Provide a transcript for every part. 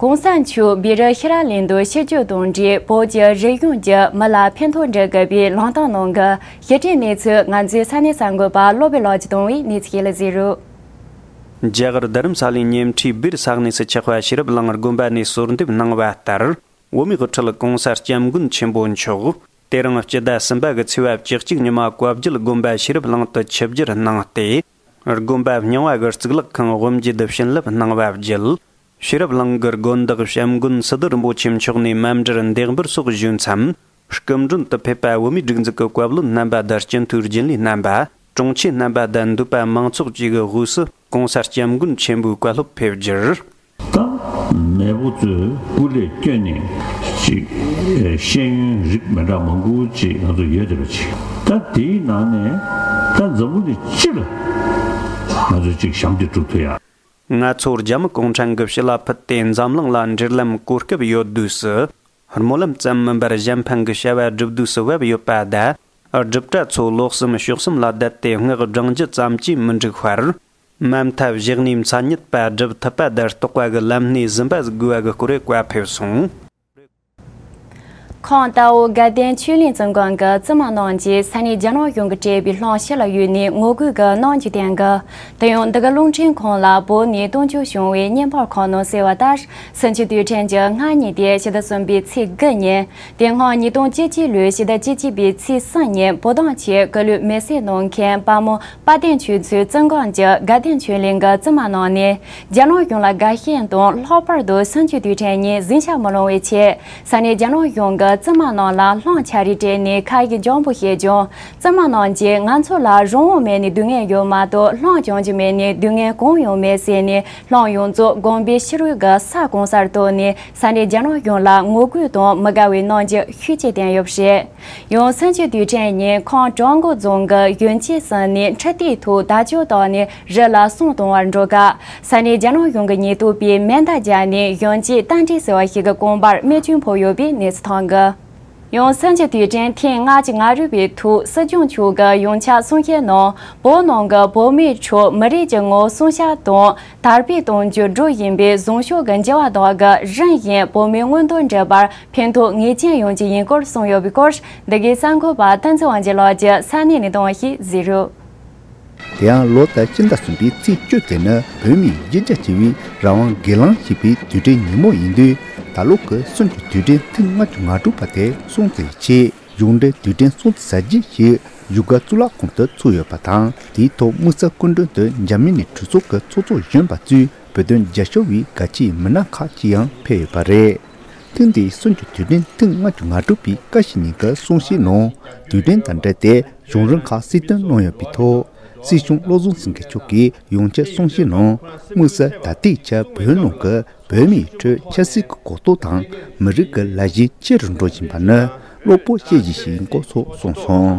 གོང་ས་མཆོག་སྦི་རི་ཧི་ར་ལན་དུ་ཕྱིར་བསྐྱོད་དང་འབྲེལ་བོད་ཀྱི་རིག་གཞུང་གི་མི་ལ་ཕན་ཐོགས་འབྲི་དགོས་པའི་ལངས་སྟངས་གནང་གི་ཞི་ཁྲའི་གནས་ཚུལ་ང་ཚོའི་ས་གནས་གསར་འགོད་པ་བློ་བི་ལགས་ཀྱི་དང་བའི་གནས་ཚུལ་ལ་གཟིགས་རོགས། རྒྱ་གར་རྡ་རམ་ས་ལའི་ཉེ་འཁྲིས་སྦིར་ས་གནས་སུ་ཆགས་པ་ཤེས་རབ་གླིང་དགོན་པ་ནས་གསོལ་འདེབས་གནང་བ་ལྟར། འོ་མའི་དབུ་ཁྲིད་གོང་ས་སྐྱབས་མགོན་ཆེན་པོ་མཆོག་དེ་རིང་སྤྱི་ཟླ་གསུམ་པ་གི་ཚེས་བབ་བཅུ་གཅིག་ཉི་མ་བཀའ་བརྒྱུད་དགོན་པ་ཤེས་རབ་གླིང་དུ་ཆིབས་བསྒྱུར་གནང་སྟེ། དགོན་པ་རྙིང་བ་གི་གཙུག་ལག་ཁང་དབུ་འབྱེད་དུ་བྱིན་རླབས་གནང་བ་བརྒྱུད། ཤེས་རབ་གླིང་གི་དགོན་བདག་བྱམས་མགོན་སི་ཏུ་རིན་པོ་ཆེ་མཆོག་ནས་རྨ་འབྲར་འདེགས་འབུལ་སོགས་ཞུས་མཚམས། སྐུ་མགྲོན་དུ་ཕེབས་པ་དབུ་མའི་སྒྲིག་འཛུགས་ཀྱི་བཀའ་བློན་རྣམ་པ་དང་སྤྱི་འཐུས་རྒྱུན་ལས་རྣམ་པ། དྲུང་ཆེ་རྣམ་པ་དང་འདུས་པ་མང་ཚོགས་བཅས་ཀྱི་དབུས་སུ ྋགོང་ས ྋསྐྱབས་མགོན་ཆེན་པོའི་བཀའ་སློབ་ཕེབས་རྒྱུར། དང། མེས་པོ་ཚོས་སྐུ་ལས་བསྐྱོན་ནས་ཅིག། ཤེས་ཡོན་རིགས་མེད་དྲག་མང་ཀུན་བཅས་ང་ཚོ་ཡོད་བསྡད་པ་ཅིག། ད་དེའི་ནང་ནས་ད་འཛམ་བུ་ནས་ཅི་ལ་ང་ཚོས་ཅིག་ཞམ་འདེགས་སྒྲུབ་ཐུབ་ཡ། ང་ཚོ་རྒྱ་མི་གུང་ཁྲན་གྱི་བྱི་ལ་ཕུད་དེ་འཛམ་གླིང་ལ་འབྲེལ་ལམ་གོ་སྐབས་ཡོད་དུས་སུ། རྨོ་ལམ་ཙམ་མིན་པར་གཞན་ཕན་གྱི་བྱ་བ་སྒྲུབ་དུས་སུ་བབས་ཡོད་པ་ད། སྒྲུབ་གྲྭ་ཚོ་ལོག་སེམས་ཕྱོགས་སེམས་ལ་བསྡད་དེ་སྔགས་བསྒྲང་རྒྱུ་ཙམ་གྱིས་མི་འགྲིག་བར། དམའ་མཐའ་བཞག་ནས་མཚན་ཉིད་པ་སྒྲུབ་ཐུབ་པ་དེར་རྟོགས་པ་གི་ལམ་སྣེ་ཟིན་པ་གཟིགས་དགོས་པ་གི་སྐོར་བཀའ་ཕེབས་སོང། ཁོང་རྟའུ་དགའ་ལྡན་ཆོས་གླིང་བཙུན་དགོན་གྱི་བཙུན་མ་གནང་རྗེས་ས་གནས་རྒྱ་ནག་གཞུང་གིས་སྤྲད་པའི་སློང་བྱེད་ལ་གཡོལ་ནས་ངོ་རྒོལ་གྱི་གནང་རྒྱུ་བསྟན། དེ་ཡང་འདི་ག་རླུང་འཕྲིན་ཁང་ལ་བོད་ནས་བཏང་འབྱོར་བྱུང་བའི་བརྙན་ཕོར་ཁག་ནང་གསལ་བ་ལྟར་སུན་ཆོས་དུས་དྲན་གྱི་སྔ་ཉིན་ཏེ་ཕྱི་ཟླ་གསུམ་པའི་ཚེས་དགུ་ཉིན་དེ་སྔ་ཉིས་སྟོང་བཅུ་གཅིག་ལོའི་ཕྱི་ཟླ་བཅུ་གཅིག་པའི་ཚེས་གསུམ་ཉིན་བོད་གདངས་ཆེད་སྐུ་ལུས་མེ་བསྲེགས་གནང་མཁན་དཔའ་མོ་དཔའ་སྟེང་ཆོས་ཚུལ་བཙན་གང་ཅི་དགའ་ལྡན་ཆོས་གླིང་གི་བཙུན་མ་རྣམས་ནི། རྒྱ་ནག་གཞུང་ལ་དགའ་ཞེན་དང་ལྷག་པར་དུ་བསང་ཆུའི་དུས་དྲན་ཉིན་གཟིང་ཆ་མི་ལོང་བའི་ཆེད་ས་གནས་རྒྱ་ནག་གཞུང་གི་བཙུན་མ་རྣམས་ལ་བསླངས་ཆ་རེ་སྤྲད་ནས་ཁ་ཡི་འཇམ་པོ་བཤད་ཀྱང་བཙུན་མ་རྣམས་ཀྱིས་ང་ཚོ་ལ་རང་དབང་མེད་ནས་སྡུག་བསྔལ་ཡོད་མ་གཏོགས་བསླངས་བྱང་གཅིག་མེད་ནས་སྡུག་བསྔལ་གང་ཡང་མེད་ཟེར་ནས་བསླངས་ཡོངས་རྫོགས་དགོངས་པའི་ཕྱི་རོལ་གྱི་ས་གང་སར་བཏོན་ནས་ས་གནས་རྒྱ་ནག་གཞུང་ལ་ངོ་རྒོལ་དང་མི་དགའ་བའི་གནང་རྒྱུ་ཤུགས་ཆེ་བསྟན་ཡོད་པ་རེད། ཡང་སུན་ཅུ་དུས་དྲན་ཉིན་ཁོང་ཀྲོང་གོ་རྫོང་གི་ཡོན་ཅི་སི་ནས་འཕྲི་ལྟས་ཐོག་དལ་ཅོལ་དོག་ནས་རི་ལ་སོང་གཏོང་བར་འགྲོ་སྐབས་ས་གནས་རྒྱ་ནག་གཞུང་གི་ཉེན་རྟོག་པས་མེ་མདའ་བརྒྱབ་ནས་ཡོན་ཅི་རྟ་མགྲིན་ཟེར་བ་ཞིག་གི་རྐང་པར་རྨས་སྐྱོན་ཕོག་ཡོད་པའི་གནས་ཚུལ་ཐོན་གི། ཡང་སུན་ཅུ་དུས་དྲན་ཐེངས་ལྔ་གཅིག་ང་རུལ་བའི་ཐོག་སྲིད་སྐྱོང་མཆོག་གི་ཡོངས་ཁྱབ་གསུང་བཤད་ནང་བོད་ནང་གི་བོད་མིའི་ཁྲོད་མི་རིགས་ཀྱི་ངོ་སྲུང་ཤ་དང། དར་སྤེལ་དང་འགྱུར་འགྲོ་ཡིན་པས་གཟུངས་ཤོག་གི་མཇལ་བ་དག་གི་རིན་བཞིན་བོད་མིའི་མངོན་འདོད་འགྲུབ་པར་ཕན་ཐོགས་ངེས་ཅན་ཡོང་རྒྱུ་ཡིན་སྐོར་གསུངས་ཡོད་པའི་སྐོར་འདི་གའི་གསར་འགོད་པ་སྟོན་ཚེ་དབང་རྗེས་ལགས་ཀྱི་ས་གནས་ནས་བཏང་བ་ཞིག་གཟིགས་རོགས། དེ་ཡང་ལོ་ཟླ་སྤྱི་ཟླ་གསུམ་པའི་ཚེས་བཅུ་དེ་ནི་བོད་མིའི་གཞི་རྒྱ་ཆེ་བའི་རང་དབང་སྒེར་ལངས་བྱེད་པའི་དུས་དྲན་ཉིན་མོ་ཡིན་དུས་ད་ལོ་གི་སོན་གྱི་དུས་དྲན་ཐེངས་ལྔ་བཅུ་ང་དྲུག་པ་དེ་སྲུང་བརྩི་བྱས། གཞུང་འབྲེལ་དུས་དྲན་སྲུང་བརྩི་བྱ་རྒྱུ་ཞིག་བཞུགས་སྒར་གཙུག་ལག་ཁང་དུ་ཚུགས་ཡོད་པ་དང་དེའི་ཐོག་དམིགས་བསལ་སྐུ་མགྲོན་དུ་འཇར་མན་ནི་གྲོས་ཚོགས་ཀྱི་ཚོགས་གཙོ་གཞོན་པ་གཙོས་བོད་དོན་རྒྱབ་ཤོར་བའི་དགའ་ཕྱིའི་མི་སྣ་ཁག་ཅིག་ཡང་ཕེབས་ཡོད་པ་རེད། ཐེངས་འདིའི་སྲུང་བརྩི་དུས་དྲན་ཐེངས་ལྔ་བཅུ་ང་དྲུག་པའི་བཀའ་ཤག་ཉིན་གྱི་གསུང་བཤད་ནང་དུས་དྲན་དང་འབྲེལ་ཏེ་གཞུང་རིམ་ཁག་སྲིད་དོན་གནང་ཡོད་པའི་ཐོག་སྲིད་གཞུང་བློ་བཟང་སེང་གེ་མཆོག་གིས་ཡོངས་ཁྱབ་གསུང་བཤད་ནང་དམིགས་བསལ་ད་ལྟའི་ཆར་བོད་ནང་གི་བོད་མིའི་ཁྲོད་ཆབ་སྲིད་ཀྱི་གོ་རྟོགས་དང་མི་རིགས་ཀྱི་ལ་གཞས་ཆེ་རུ་འགྲོ་བཞིན་པ་ནི་བློ་སྤོབས་སྐྱེད་རྒྱུ་ཞིག་ཡིན་སྐོར་སོགས་གསུངས་སོང།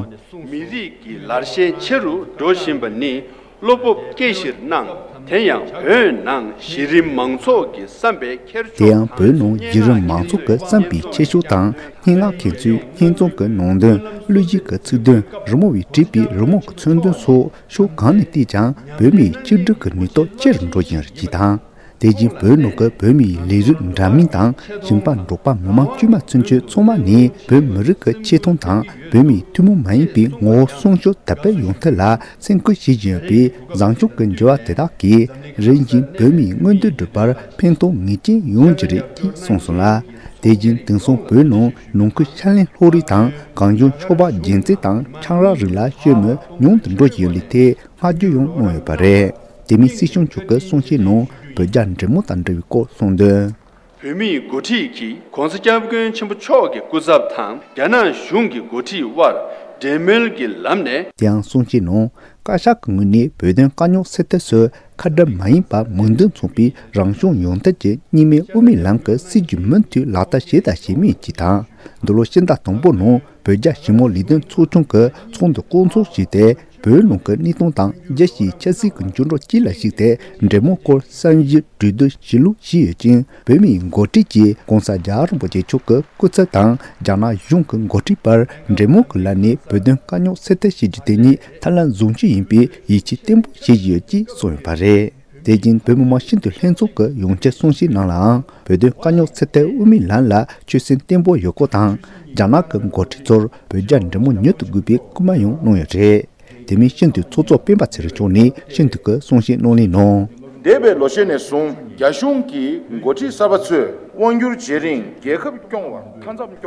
མི་རིགས་ཀྱི་ལར་གཞས་ཆེ་རུ་འགྲོ་བཞིན་པ་ནི་བློ་སྤོབས་སྐྱེད་གཞིར་སྣང། དེ་ཡང་བོད་ནང་གཞི་རིམ་མང་ཚོགས་ཀྱི་བསམ་པའི་འཁྱེར་དེ་ཕྱོགས་ཡང་བོད་དང་ནང་སྙན་གཞི་རིམ་ངག་མང་ཚོགས་ཀྱི་ཀྱི་བསམ་པའི་འཁྱེར་ཕྱོགས་དང་སྙན་ངག་མཁན་ཚོའི་སྙན་རྩོམ་གྱི་ནང་དོན་བློས་འཇིགས་ཀྱི་ཚིག་དོན་རི་མོ་བས་བྲིས་པའི་རི་མོ་གྱི་མཚོན་དོན་སོགས་ཕྱོགས་གང་ནས་བལྟས་ཀྱང་བོད་མིའི་ཆིག་སྒྲིལ་གྱི་ནུས་སྟོབས་ཆེ་རུ་འགྲོ་བཞིན་རེད་ཅེས་དང། དེ་བཞིན་བོད་ནང་གི་བོད་མིའི་ལས་རིགས་འདྲ་མིན་དང་ཞིང་པ་འབྲོག་པ་མི་མང་དཀྱུས་མ་ཚུན་ཆོད་ཚང་མ་ནས་བོད་མི་རིགས་ཀྱི་ཆེ་མཐོང་དང་བོད་མིའི་ཐུན་མོང་མ་ཡིན་པའི་ངོ་བོ་སྲུང་སྐྱོབ་དར་སྤེལ་ཡོང་ཐབས་ལ་སེམས་ཁུར་བྱེད་བཞིན་ཡོད་པས་བཟང་སྐྱོང་གི་འགྱུར་བ་དེ་དག་གིས་རིམ་བཞིན་བོད་མིའི་མངོན་འདོད་སྒྲུབ་པར་ཕན་ཐོགས་ངེས་ཅན་ཡོང་རྒྱུ་རེད་ཅེས་གསུངས་སོང་ལ། དེ་བཞིན་དེང་སང་བོད་ནང་ནང་ཁུལ་ཕྱག་ལེན་ལྷོ་རིགས་དང་གངས་ལྗོངས་ཕྱོགས་པ་རྒྱལ་མཚན་དང་ཆང་རག་རིགས་ལ་ཤོད་མི་ཉུང་དུ་འགྲོ་བཞིན་ཡོད་ལུགས་ཐད་བསྔགས་བརྗོད་ཡང་གནང་ཡོད་པ་རེད། དེ་མིན་སྲིད་གཞུང་བྱུག་སྐོར་གསུང་བཤད་ནང་བོད་རྒྱ་འབྲེལ་མོལ་དང་འབྲེལ་བའི་སྐོར་གསུང་དོན། བོད་མིའི་འགོ་ཁྲིད་ཀྱིས ྋགོང་ས ྋསྐྱབས་མགོན་ཆེན་པོ་མཆོག་གི་སྐུ་ཚབ་དང་རྒྱ་ནག་གཞུང་གི་འགོ་ཁྲིད་དབར་འབྲེལ་མོལ་གྱི་ལམ་ནས། དེ་ཡང་གསུང་བཤད་ནང་བཀའ་ཤག་གི་ངོས་ནས་བོད་དོན་དཀའ་རྙོག་སེལ་ཐབས་སུ་ཁ་བྲལ་མ་ཡིན་པར་མོས་འདུན་མཚུངས་པའི་རང་གཞུང་ཡོངས་བཏོད་ཀྱི་གཉིས་མེད་དབུ་མའི་ལམ་གྱི་སྲིད་བྱུས་མུ་མཐུད་ལག་བསྟར་བྱས་དང་བྱེད་མུས་ཀྱི་དང་འདུ་ལོ་ཕྱི་ཟླ་དང་པོ་ནང་བོད་རྒྱ་ཞི་མོལ་ལས་དོན་ཚོགས་ཆུང་གི་ཚོགས་འདུ་བསྐོང་ཚོགས་བྱས་ཏེ་བོད་ནང་གི་གནས་སྟངས་དང་རྒྱལ་སྤྱིའི་ཆབ་སྲིད་ཀྱི་འགྱུར་འགྲོས་སྤྱི་ལ་གཞིགས་ཏེ་འབྲེལ་མོལ་སྐོར་བསམ་གཞིག་གྲོས་བསྡུར་བྱེད་ལུགས་བཞི་ཡོད་ཅིང་བོད་མིའི་མགོ་ཁྲིད་ཀྱིས ྋགོང་ས ྋརྒྱལ་རིན་པོ་ཆེ་མཆོག་གི་སྐུ་ཚབ་དང་རྒྱ་ནག་གཞུང་གི་མགོ་ཁྲིད་བར་འབྲེལ་མོལ་གྱི་ལམ་ནས་བོད་དོན་དཀའ་རྙོག་སེལ་ཐབས་བྱེད་རྒྱུ་དེ་ཉིད་ཐབས་ལམ་བཟུང་རྒྱུ་ཡིན་པའི་ཡིད་ཆེས་བརྟན་པོ་བྱེད་བཞིན་ཡོད་ཅེས་གསུངས་ཡོད་པ་རེད། དེ་བཞིན་བོད་མི་མང་ཤིན་ཏུ་ལྷན་འཛོམས་ཀྱི་ཡོང་ཆེད་གསུང་བཤད་ནང་ལའང་བོད་དོན་དཀའ་རྙོག་ཚེ་ཐལ་དབུ་མའི་ལམ་ལ་ཆོད་སེམས་བརྟན་པོ་ཡོད་སྐོར་དང་རྒྱ་ནག་གི་མགོ་ཁྲིད་ཚོར་བོད་རྒྱ་འབྲེལ་མོ་མྱུར་དུ་དགོས་པའི་སྐུལ་མ་ཡང་གནང་ཡོད་རེད། དེ་མིན་ཤིན་ཏུ་ཚོགས་གཙོ་སྤེན་པ་ཚེ་རིང་མཆོག་ནས་ཤིན་ཏུ་ཀྱི་གསུང་བཤད་གནང་ལེན་གནང། འདས་པའི་ལོ་ཤས་ནས་བཟུང་རྒྱ་གཞུང་གིས་མགོ་ཁྲིད་གསར་པ་ཚོས་དབང་བསྒྱུར་བྱེད་རིང་རྒྱལ་ཁབ་སྐྱོང་བར།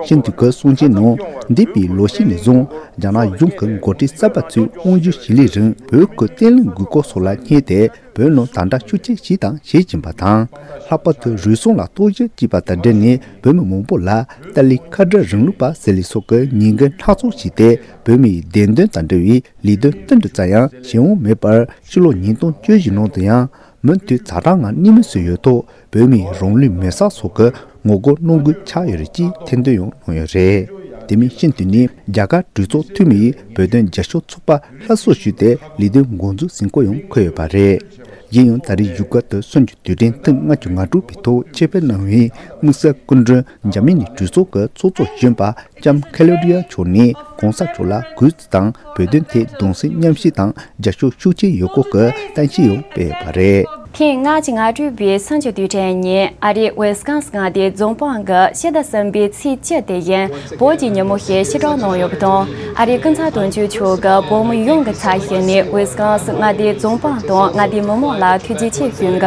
ཤིན་ཏུ་གར་སོང་ཅན་ནོ། འདས་པའི་ལོ་ཤས་ནས་བཟུང་རྒྱ་ནག་གཞུང་གི་མགོ་ཁྲིད་གསར་པ་ཚོས་དབང་བསྒྱུར་བྱེད་ལས་རིང་བོད་ཁུལ་བརྟན་བརླིང་དགོས་སྐོར་སོགས་ལ་བསྙད་དེ་བོད་ནང་དམ་དྲག་ཤུགས་ཆེ་བྱས་དང་བྱེད་བཞིན་པ་དང། ལྷག་པར་དུ་རུལ་སུངས་ལ་རྟོག་ཞིབ་ཅེས་པ་དང་འབྲེལ་ནས་བོད་མི་མང་པོ་ལ་ཏཱ་ལའི་ཁ་བྲལ་རིང་ལུགས་པ་ཟེར་ལས་སོགས་ཀྱི་ཉེས་འགེལ་སྣ་ཚོགས་བྱས་ཏེ་བོད་མིའི་བདེན་དོན་དང་འབྲེལ་བའི་ལས་དོན་སྟོན་དུ་བཅར་ཡང་བྱེད་དབང་མེད་པར་ཕྱི་ལོ་ཉིས་སྟོང་བཅུ་བཞི་ནང་དུ་ཡང་མུ་མཐུད་ཛག་དྲག་ངང་གནས་མལ་བཟོས་ཡོད་ཐོག་བོད་མི་རང་ལུས་མེར་བསྲེགས་སོགས་ཀྱི་ངོ་རྒོལ་གནང་དགོས་ཆགས་ཡོད་རེད་ཅེས་ཐེར་འདོན་ཡང་གནང་ཡོད་རེད། དེ་མིན་ཤིན་ཏུ་ནི་རྒྱ་གར་གྲོས་ཚོགས་འཐུས་མིའི་བོད་དོན་མཇལ་ཞུ་ཚོགས་པ་ལྷ་བཟོ་ཞུས་ཏེ་ལས་དོན་མགོ་འཛུགས་ཟིན་སྐོར་ཡང་འཁོད་ཡོད་པ་རེད། གཞན་ཡང་ད་རེས་བཞུགས་སྒར་དུ་སོན་རྒྱུ་དུས་དྲན་ཐེངས་ལྔ་བཅུ་ང་དྲུག་པའི་ཐོག་ཆེད་ཕེབས་གནང་བའི་དམིགས་བསལ་སྐུ་མགྲོན། འཇར་མན་ནི་གྲོས་ཚོགས་ཀྱི་ཚོགས་གཙོ་གཞོན་པ་ལྕམ་ཁེ་ལོ་རིའ་མཆོག་ནས་གོང་ས་མཆོག་ལ་གུས་བརྩི་དང་བོད་དོན་ཐད་གདུང་སེམས་མཉམ་བསྐྱེད་དང་རྒྱ་ཤོག་ཤུགས་ཆེན་ཡོད་སྐོར་གྱི་གཏམ་བཤད་ཡང་སྤེལ་བ་རེད། དེང་སྔ་ཕྱི་ང་སྤྲུལ་པའི་སངས་རྒྱས་དུས་དྲན་ཉིན་ཨ་རིའི་ཝེ་སི་ཀང་སི་མངའ་སྡེའི་རྫོང་པང་གི་ཤེས་ལྡ་གསུམ་པའི་ཚེས་བཅུ་དེ་ཡིན་བོད་ཀྱི་ཉིན་མོ་ཞེས་ཕྱིར་བསྒྲགས་གནང་ཡོད་པ་དང་ཨ་རིའི་སྐུ་ཚབ་དོན་གཅོད་མཆོག་གིས་བོད་མི་ཡོངས་ཀྱི་ཚབ་བྱས་ནས་ཝེ་སི་ཀང་སི་མངའ་སྡེའི་རྫོང་པང་དང་མངའ་སྡེའི་མི་མང་ལ་ཐུགས་རྗེ་ཆེ་ཞུས་འདུག།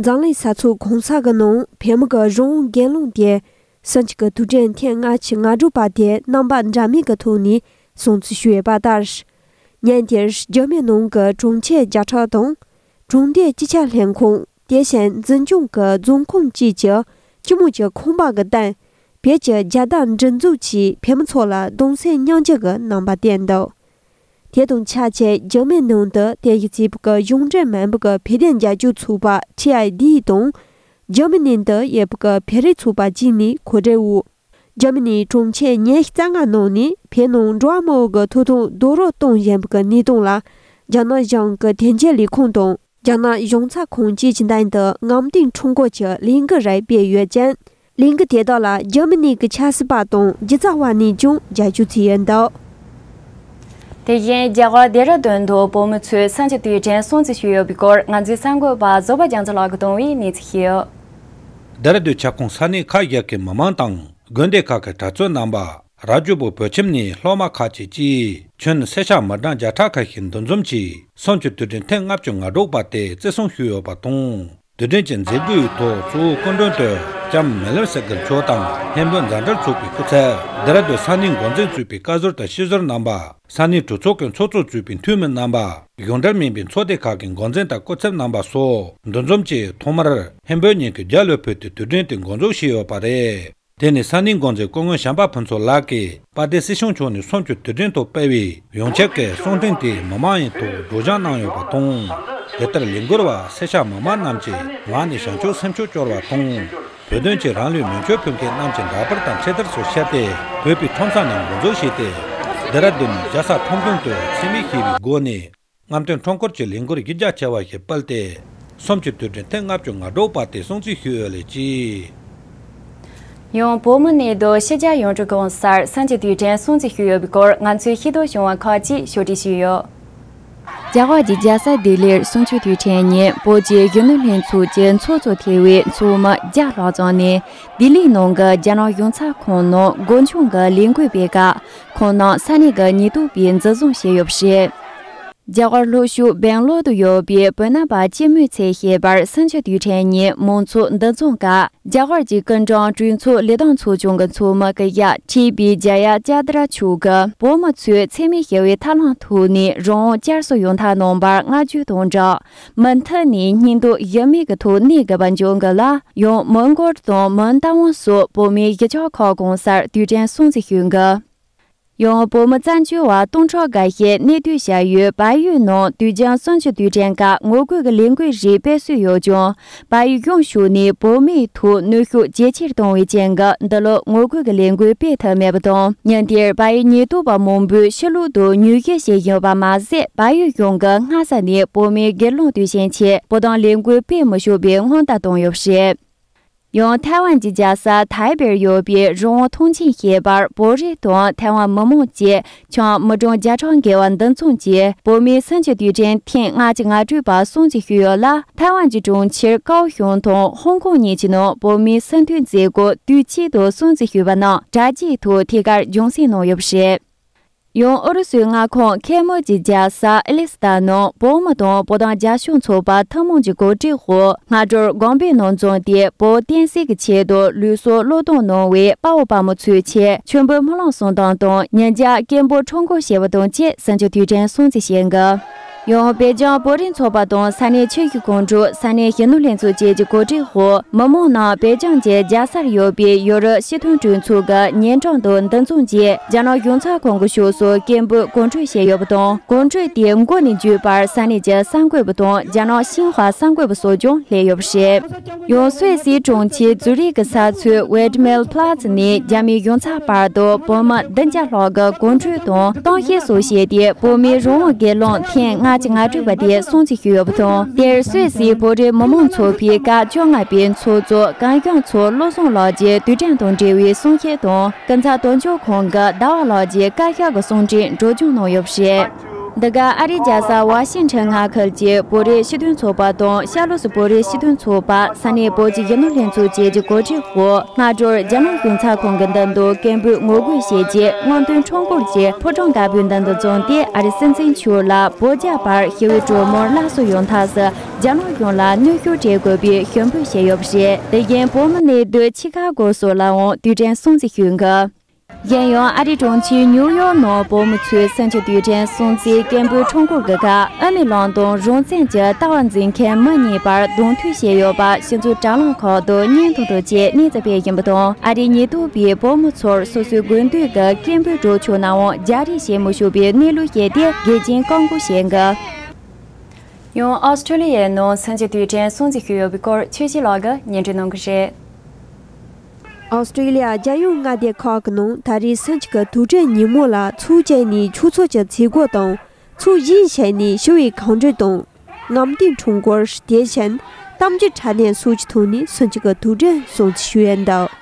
འཛམ་གླིང་ས་ཚུགས་གང་ས་གི་ནང་བལ་མི་གི་རང་དབང་འགན་ལུང་དེ་སུན་ཅི་གི་དུས་དྲན་ཐེངས་ལྔ་ཆི་ལྔ་སྒྲུབ་པ་དེ་རྣམ་པ་འདྲ་མིན་གི་ཐུགས་ནས་སྲུང་བརྩི་ཞུ་ཡོད་པ་ལྟར། ཉན་དེར་རྒྱ་མི་ནང་གི་དྲུང་ཆེ་བརྒྱ་ཕྲག་དང། དྲུང་སྡེ་སྤྱི་ཁྱབ་ལྷན་ཁང་དེ་བཞིན་འཛིན་སྐྱོང་གི་རྫོང་ཁོངས་བཅས་ཀྱི་སྤྱི་དམངས་ཀྱི་ཁང་པ་གི་སྟེང། བལ་གྱི་རྒྱལ་དར་འདྲི་འཛུགས་ཀྱིས་བལ་མི་ཚོ་ལ་གདུང་སེམས་མྱང་འཇིགས་གི་རྣམ་པ་བསྟན་འདུག། དེ་དང་ཆ་བྱད་རྒྱུ་མའི་ནང་དུ་དེ་ཡི་རྩིས་པའི་གཞུང་འགྲེལ་སྨན་པའི་བྷེ་དན་རྒྱ་སྒྱུར་ཚུགས་པ་ཁྲི་ཨའི་ལྡི་ཡི་དང། རྒྱུ་མའི་ནང་དུ་ཡེ་བྷི་ཀའི་བྷེ་རེ་ཚུགས་པ་གཅིག་ནི་གོ་འབྲེལ་བོ། རྒྱུ་མའི་ནི་གྲོང་ཁྱེར་ཉེར་རྩ་ལྔ་ནང་ནས་བྷེ་ནང་འགྲོ་བ་མང་བོ་གི་ཐུགས་དང་རྡོ་རོ་གཏོང་བཞིན་པའི་གནས་སྟངས་ལ། རྒྱ་ནག་གཞུང་གི་དེ་འབྱེད་ལས་ཁུངས་དང། རྒྱ་ནག་གཞུང་ཚ་ཁུང་ཅིས་ཅིན་ཐན་དུ་ངམ་ཏིང་ཁྲུང་གོ་ཆི་གླིང་གི་རས་སྤེལ་ཡོད་ཅིང། གླིང་གི་དེ་དག་ལ་རྒྱ་མི་ནི་གི་ཆགས་སྲིད་པ་དང་རྒྱུ་ཚ་བ་ནི་ཅུང་རྒྱ་ཆུ་ཚིག་ཡོད་འདུག། དེ་བཞིན་རྒྱ་གར་རྡེ་ར་དོན་དུ་བོད་མི་ཚོས་ས་ཆ་དེའི་དྲན་གསོ་མཛད་ཞུས་ཡོད་པའི་སྐོར་ང་ཚོའི་གསར་འགོད་པ་བཟོ་པ་རྒྱ་མཚོ་ལགས་ཀྱི་གདུང་བའི་གནས་ཚུལ་ཤེས། རྡེ་ར་དུའི་ཁྱབ་ཁོངས་ས་གནས་ཁག་བརྒྱད་ཀྱི་མི་མང་དང་དགོན་སྡེ་ཁག་གི་གྲྭ་བཙུན་རྣམ་པ། རྭ་ཅོ་པོ་བོད་ཁྱིམ་ནས་སློབ་མ་ཁག་ཅིག་ཅིས། ཁྱོད་ནི་སེར་ཤ་མར་སྦྲང་བརྒྱ་ཕྲག་ཁ་ཤས་འདུ་འཛོམས་ཀྱིས་སོང་ཁྱོད་དུས་དྲན་ཐེངས་ལྔ་བཅོ་ལྔ་སྒྲོག་པ་དེ་བརྩི་སྲུང་ཞུས་ཡོད་པ་དང་དུས་དྲན་གྱི་མཛད་སྒོའི་ཐོག་གཙོ་བོ་སྐུ་མགྲོན་དུ་ལྕམ་མེ་ལེམ་སེ་གྷིར་མཆོག་དང་མཁན་པོ་མཛའ་འབྲེལ་ཚོགས་པའི་སྐུ་ཚབ་རྡེ་ར་ལྡུན་ས་གནས་འགོ་འཛིན་གཙོས་པའི་བཀའ་ཟུར་དང་ཤེས་ཟུར་རྣམ་པ་ས་གནས་གྲོས་ཚོགས་ཀྱི་ཚོགས་གཙོ་གཙོས་པའི་འཐུས་མི་རྣམ་པ་གཞུང་འབྲེལ་མིན་པའི་ཚོགས་སྡེ་ཁག་གི་འགོ་འཛིན་དང་སྐུ་ཚབ་རྣམ་པ་སོགས་འདུ་འཛོམས་ཀྱིས་ཐོག་མར་མཁན་པོའི་ཉིན་གྱི་རྒྱ་ལོའི་བོད་དུ་དུས་དྲན་དེ་འགོ་འཛུགས་བྱས་ཡོད་པ་རེད། དེ་ནི་ས་གནས་འགོ་འཛིན་སྐུ་ངོ་ཞམ་པ་ཕུན་ཚོགས་ལགས་ཀྱིས་དཔལ་ལྡན་སྲིད་གཞུང་མཆོག་ནས་གསུམ་བཅུ་དུས་དྲན་ཐོག་སྤེལ་བའི་ཡོངས་ཁྱབ་ཀྱི་གསུང་འཕྲིན་དེ་མི་མང་ཡན་ཐོག་སྒྲོག་སྦྱང་གནང་ཡོད་པ་དང། དེ་ལྟར་ལས་འགུལ་བ་སེར་ཤ་མི་མང་རྣམས་ཀྱི་ངག་ནས་བྱང་ཆུབ་སེམས་ཕྱོགས་སྐྱོར་བ་དང། བོད་དོན་ཆེད་རང་ལུས་མེ་མཆོད་ཕུལ་མཁན་རྣམས་ཀྱི་འདྲ་པར་དང་ཆེད་དར་སོགས་བཤད་དེ་བོད་པའི་ཁྲོམ་ས་ནས་འགོ་འཛུགས་བྱས་ཏེ། རྡེ་ར་རྡུན་ནས་རྒྱལ་ས་ཁྲོམ་གདོང་དུ་འཚེ་མེད་ཞི་བའི་སྒོ་ནས་རྔམ་སྟོན་ཁྲོམ་སྐོར་གྱི་ལས་འགུལ་རིགས་རྒྱ་ཆེ་བ་ཞིག་སྤེལ་ཏེ། གསུམ་གྱི་དུས་དྲན་ཐེངས་ལྔ་བཅུ་ང་དྲུག་པ་དེ་སྲུང་བརྩི་ཞུ་འོས་ལས་ཀྱི། ཡང་བོད་མི་ནི་རྡོ་ཤི་རྒྱ་ཡོངས་གྲུབ་གང་སར་སེམས་ཀྱི་དུས་དྲན་སྲུང་བརྩི་ཞུ་འོས་པའི་སྐོར་ང་ཚོའི་ཤེས་རྟོགས་བྱུང་བ་ཁག་ཅིག་ཕྱོགས་སྒྲིག་ཞུས་ཡོད། རྒྱ་གར་གྱི་རྒྱལ་ས་ལྡི་ལིར་སྲུང་བརྩི་དུས་དྲན་ཉིན་བོད་ཀྱི་གཞོན་ནུ་ལྷན་ཚོགས་ཀྱི་ཚོགས་གཙོ་ཐེ་བོའི་མཚོ་མི་བརྒྱ་ལྷག་བཅངས་ནས་ལྡི་ལིའི་ནང་གི་རྒྱ་ནག་གཞུང་ཚབ་ཁང་ནང་དགོངས་ཆུང་གི་ལས་འགུལ་སྤེལ་སྐབས། ཁོང་ནང་ས་གནས་ཀྱི་ཉེས་རྡུང་པས་འཛིན་བཟུང་བྱས་ཡོད་པ་རེད། རྒྱ་གར་ལྷོ་ཤུག་སྦེང་ལོར་དུ་ཡོད་པའི་བོད་ནང་པ་སྤྱི་མོས་ཚལ་ཞེས་པར་སུན་ཆོས་དུས་དྲན་ཉིན་མང་ཚོགས་འདུ་འཛོམས་སྐབས་རྒྱ་གར་གྱི་སྐུ་མགྲོན་གྲོས་ཚོགས་ལས་དང་ཚོགས་ཆུང་གི་ཚོགས་མི་ཀི་ཡ་ཁྲི་པི་ཇ་ཡ་ཅ་ཏི་ར་མཆོག་གིས་བོད་མི་ཚོས་འཚེ་མེད་ཞི་བའི་ཐབས་ལམ་ཐོག་ནས་རང་དབང་བསྐྱར་གསོ་ཡོང་ཐབས་གནང་བར་བསྔགས་བརྗོད་དང་སྦྲགས། མུ་མཐུད་ནས་སྙིང་སྟོབས་དབྱེར་མེད་ཀྱི་ཐོག་གནད་འགག་པ་འཇོག་དགོས་ལ། ཡང་མོན་སྒོར་དང་མོན་རྟ་དབང་སོགས་བོད་མིའི་གཞིས་ཆགས་ཁག་གང་སར་དུས་དྲན་སྲུང་བརྩི་ཞུ་འགོ། ཡང་བོད་མི་བཙན་བྱོལ་བ་སྟོང་ཕྲག་འགའ་ཤས་གནས་སྡོད་བྱ་ཡུལ་བལ་ཡུལ་ནང་དུས་བྱང་སྲུང་བྱེད་དུས་དྲན་སྐབས་ངོ་རྒོལ་གྱི་ལས་འགུལ་རིགས་སྤེལ་སྲོལ་ཡོད་ཀྱང། པ་ཡིག་རྒྱུགས་ཞུ་ནས་བོད་མི་ཐོག་ནུས་ཤུགས་ཇེ་ཆེར་གཏོང་བའི་རྐྱེན་ག་འདི་ལོ་ངོ་རྒོལ་གྱི་ལས་འགུལ་སྤེལ་ཐབས་མེད་པ་དང་ཉིན་དེར་བ་ཡི་ཉེ་དུ་བ་མང་པོས་ཕྱི་ལོག་ཏུ་ཉུལ་སྐྱེལ་བྱས་ཡོད་པ་མ་ཟད་བ་ཡིག་རྒྱུགས་འགའ་སྔ་ས་ནས་བོད་མིའི་སྒེར་ལངས་དུས་ཆེན་ཆེད་བོ་དང་ལས་འགུལ་སྤེལ་མི་ཤུགས་པའི་སྔོན་བརྡ་བཏང་ཡོད་པ་རེད། ཡང་ཐའེ་ཝན་གྱི་རྒྱལ་ས་ཐའེ་པེར་ཡོད་པའི་རང་དབང་ཐོངས་ཆེན་ཞེས་པར་བོད་རིགས་དང་ཐའེ་ཝན་མི་མང་བཅས་ཆང་མི་གྲོང་བརྒྱ་ཕྲག་འགས་བ་འདི་མཚུངས་ཀྱིས་བོད་མིའི་སེམས་ཀྱི་དུས་དྲན་ཐེངས་ལྔ་གཅིག་ང་སྤྲུལ་པ་སུང་ཅི་ཞུས་ཡོད་ལ་ཐའེ་ཝན་གྱི་གྲོང་ཁྱེར་ཀའོ་ཞུང་དང་ཧོང་ཀོང་གཉིས་ཀྱི་ནང་བོད་མིའི་སེམས་མཐུན་མཛད་སྒོ་དུས་གཅིག་ཏུ་སུང་ཅི་ཞུས་པ་ནང་གྲ་རྒྱས་ཐོག་ཐད་ཀར་རྒྱུན་སྲིང་གནང་ཡོད་པ་རེད། ཡང་ཨུ་རུ་སུའི་མངའ་ཁོངས་ཁེ་མོ་ཇི་རྒྱལ་ས་ཨེ་ལི། ད་ནངས་བོད་མི་དང་བོ་དང་རྒྱ་གཞུང་ཚོགས་པ་ཐུན་མོང་གྱི་གོ་སྒྲིག་འོག་སྔ་དྲོར་སྒང་པའི་ནང་འཛོམས་ཏེ་བོད་བསྟན་སྲིད་ཀྱི་ཆེད་དུ་ལུས་སྲོག་བློས་གཏོང་གནང་བའི་དཔའ་བོ་དཔའ་མོ་ཚོའི་ཆེད་མཆོད་འབུལ་སྨོན་ལམ་གསུང་སྟངས་དང་ཉིན་བརྒྱ་སྐད་འབོད་ཁྲོམ་སྐོར་བྱས་པ་དང་བཅས་གཟིམ་ཆུང་དུས་དྲན་སྲུང་བརྩི་བྱེད་འགོ་ཡང་བོད་ལྗོངས་བོད་རིགས་ཚོགས་པ་དང་ས་གནས་ཆོས་བརྒྱུད་ཁོང་དྲུག་ས་གནས་གཞོན་ནུ་ལྷན་ཚོགས་བཅས་ཀྱི་གོ་སྒྲིག་འོག་མི་མང་རྣམས་བོད་ལྗོངས་ཀྱི་རྒྱལ་སར་ཡོད་པའི་ཡོ་རོབ་སྤྱི་མཐུན་གྲོས་ཚོགས་ཀྱི་ཉིན་གྲངས་དང་འདུ་འཛོམས་རྗེས། རྒྱ་ནག་གཞུང་ཚ་ཁོངས་ཀྱི་ཕྱོགས་སུ་སྐད་འབོད་གོ་འཕྲོད་བྱས་ཡོད་པ་དང་གོ་འཕྲོད་དེའི་མགོ་ནས་མཇུག་བར་ས་གནས་ཀྱི་གསར་འགོད་པ་དང་རྒྱ་ནག་ཤིན་ཧྭ་གསར་འགོད་པ་སོགས་ཀྱང་སླེབས་ཡོད་པ་རེད། ཡང་སུད་སིའི་གྲོང་ཁྱེར་ཛུ་རིག་གི་ས་མཚོའི་ཝེད་མེལ་ཕ་ལ་ཙི་ནས་རྒྱ་མིའི་གཞུང་ཚ་བར་དུ་བོད་མི་བདུན་བརྒྱ་ལྷག་གི་གོ་འཕྲོད་དང་གཏམ་བཤད་སོགས་བྱས་ཏེ་བོད་མིའི་རང་དབང་སྒེར་ལངས་ཐེངས་ལྔ་བཅུ་ང་དྲུག་པ་དེ་སྲུང་བརྩི་ཞུས་ཡོད་པ་དང་དེར་སུད་སིའི་བོད་རིགས་མི་མང་ཚོགས་པའི་སྐབས་བཅོ་ལྔ་པའི་ཚོགས་གཙོ་གངས་སྐྱོང་མཚོ་བློ་བཟང་ལགས་ཀྱིས་དུས་དྲན་དང་འབྲེལ་བའི་གསུང་བཤད་དང། སྐུ་ཚབ་དོན་གཅོད་ཁང་གི་ཟླ་བ་ལགས་ཀྱིས་བཀའ་ཤག་གི་གསུང་འཕྲིན་སྒྲོག་སྦྱང་གནང་ཡོད་པ་རེད། འདི་ག་ཨ་རིའི་རྒྱལ་ས་བྷ་ཤིང་ཁྲེང་མངའ་ཁུལ་གྱི་བོད་རིགས་སྤྱི་མཐུན་ཚོགས་པ་དང་ཤར་ལྷོ་སུ་བོད་རིགས་སྤྱི་མཐུན་ཚོགས་པ་ས་གནས་བོད་ཀྱི་རྒྱུ་ནོར་ལྷན་ཚོགས་བཅས་ཀྱི་གོ་སྒྲིག་འོག་སྔ་དྲོར་རྒྱ་ནག་གཞུང་ཚགས་ཁང་གི་མདུན་དུ་སྐད་འབོད་ངོ་རྒོལ་བྱས་རྗེས་སྔོན་ཐོན་ཁྲོམ་སྐོར་གྱི་ཕོ་བྲང་དཀར་པོའི་མདུན་དུ་བརྫངས་ཏེ་ཨ་རི་སྲིད་འཛིན་མཆོག་ལ་བོད་རྒྱ་བར་ཞི་བའི་གྲོས་མོལ་སླར་གསོ་ཡོང་ཐབས་སུ་རྒྱ་ནག་གཞུང་ལ་གནོད་སྐྱོན་འདྲེན་དགོས་པའི་ཞུ་འབོད་བྱས་ཡོད་པ་རེད། དེ་རྐྱེན་བོད་མི་གནས་སྡོད་ཆི་ཁ་གོ་སོགས་ལའང་དུས་དྲན་སྲུང་བརྩི་ཞུས་འགོ། གཞན་ཡང་ཨ་རི་གྲོང་ཁྱེར་ཉིའུ་ཡོག་ནང་བོད་མི་ཚོའི་སེམས་ཀྱི་དུས་དྲན་སྲུང་བརྩིའི་སྐད་འབོད་ཁྲོམ་སྐོར་གྱི་ཁར་ཨ་མེ་གླིང་དང་རང་བཙན་གྱི་ལྟ་བ་འཛིན་མཁན་མི་གཉིས་བར་གདོང་ཐུག་བྱས་ཡོད་པ་ཕྱི་ཚུལ་དྲ་ལམ་ཁག་ཏུ་བརྙན་ཐུང་དང་བཅས་གནས་ཚུལ་སྤེལ་བཞིན་པ་དང་ཨ་རིའི་ཉེ་དུ་བའི་བོད་མི་ཚོར་སོ་སོའི་དགོས་འདོད་ཀྱི་སྐད་འབོད་སྒྲོག་ཆོག་ནའང་རྒྱ་རིགས་ཞེ་མི་ཞུ་བའི་གནས་ལུགས་བཤད་དེ་རྒྱལ་སྤྱིའི་བཀག་འགོག་བྱས་འགོ། ཡང་ཨོ་སི་ཁྲུ་ལི་ཡའི་ནང་སུན་གྱི་དུས་དྲན་སྲུང་བརྩི་ཞུས་ཡོད་པའི་སྐོར་ཆོས་སྐྱིད་ལགས་ཀྱིས་ཉན་སྤྲོད་གནང་གི་རེད། ཨོ་སི་ཁྲུ་ལི་ཡ་རྒྱལ་ཡོངས་མངའ་སྡེ་ཁག་གི་ནང་ད་རེས་སུན་གྱི་དུས་དྲན་ཉིན་མོ་ལ་ཚུགས་བྱས་ནས་ཆུ་ཚོད་ཀྱི་ཚེས་དགུ་དང་ཚུགས་བཞིའི་ཆེད་ནས་ཞི་བའི་གང་བྲོས་དང། རྔམ་སྟོན་འཁྲུངས་སྐོར་དེ་བཞིན་གཏམ་རྒྱུད་དྲ་གནས་སོགས་ཀྱི་ཐོག་ནས་སུན་གྱི་དུས་དྲན་སྲུང་བརྩི་ཞུས་ཡོད་འདུག།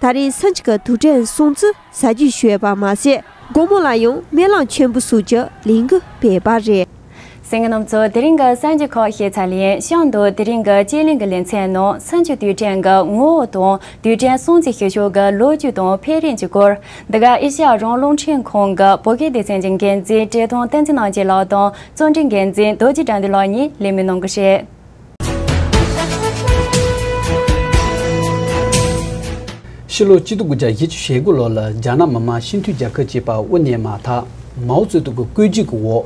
ད་རེས་སུན་ཅི་གི་དུར་ཁྲོད་སྲུང་བརྩི་ས་བརྒྱུད་ཞུས་པ་མ་ཟད་དགོང་མོ་ལ་ཡང་སྨན་བླངས་མཆོད་འབུལ་སོགས་ཀྱི་ལས་འགུལ་སྤེལ་བ་རེད། སེང་གེ་རྣམས་ཚོ་དེ་རིང་གི་གསར་འགྱུར་ཁག་ཤེས་ཚར་ལན་བཤམས་འདུག་དེ་རིང་གི་དཔྱད་གླེང་གི་ལེ་ཚན་ནང་སུན་ཅི་དུར་ཁྲོད་ཀྱི་ངོ་བོ་དང་དུར་ཁྲོད་སྲུང་བརྩི་ཞུ་ཕྱོགས་ཀྱི་ལོ་རྒྱུས་དང་འཕེལ་རིམ་གྱི་སྐོར། འདི་ག་ཨེ་ཤ་ཡ་རོང་རླུང་འཕྲིན་ཁང་གི་བོད་སྐད་སྡེ་ཚན་གྱི་འགན་འཛིན་བཀྲས་མཐོང་བསྟན་འཛིན་རྣམ་རྒྱལ་ལགས་དང་རྩོམ་སྒྲིག་འགན་འཛིན་རྡོ་རྗེ་དགྲ་འདུལ་ལགས་གཉིས་ལས་མི་གནང་གི་རེད། ཕྱི་ལོ་སྤྱི་སྟོང་དགུ་བརྒྱ་བཞི་ཅུ་ཞེ་དགུ་ལོར་ལ་རྒྱ་ནག་མི་དམངས་སྤྱི་མཐུན་རྒྱལ་ཁབ་ཅེས་པ་དབུ་བརྙེས་མ་ཐག་མའོ་ཙེ་ཏུང་གི་བཀོད་སྒྲིག་གི་འོག་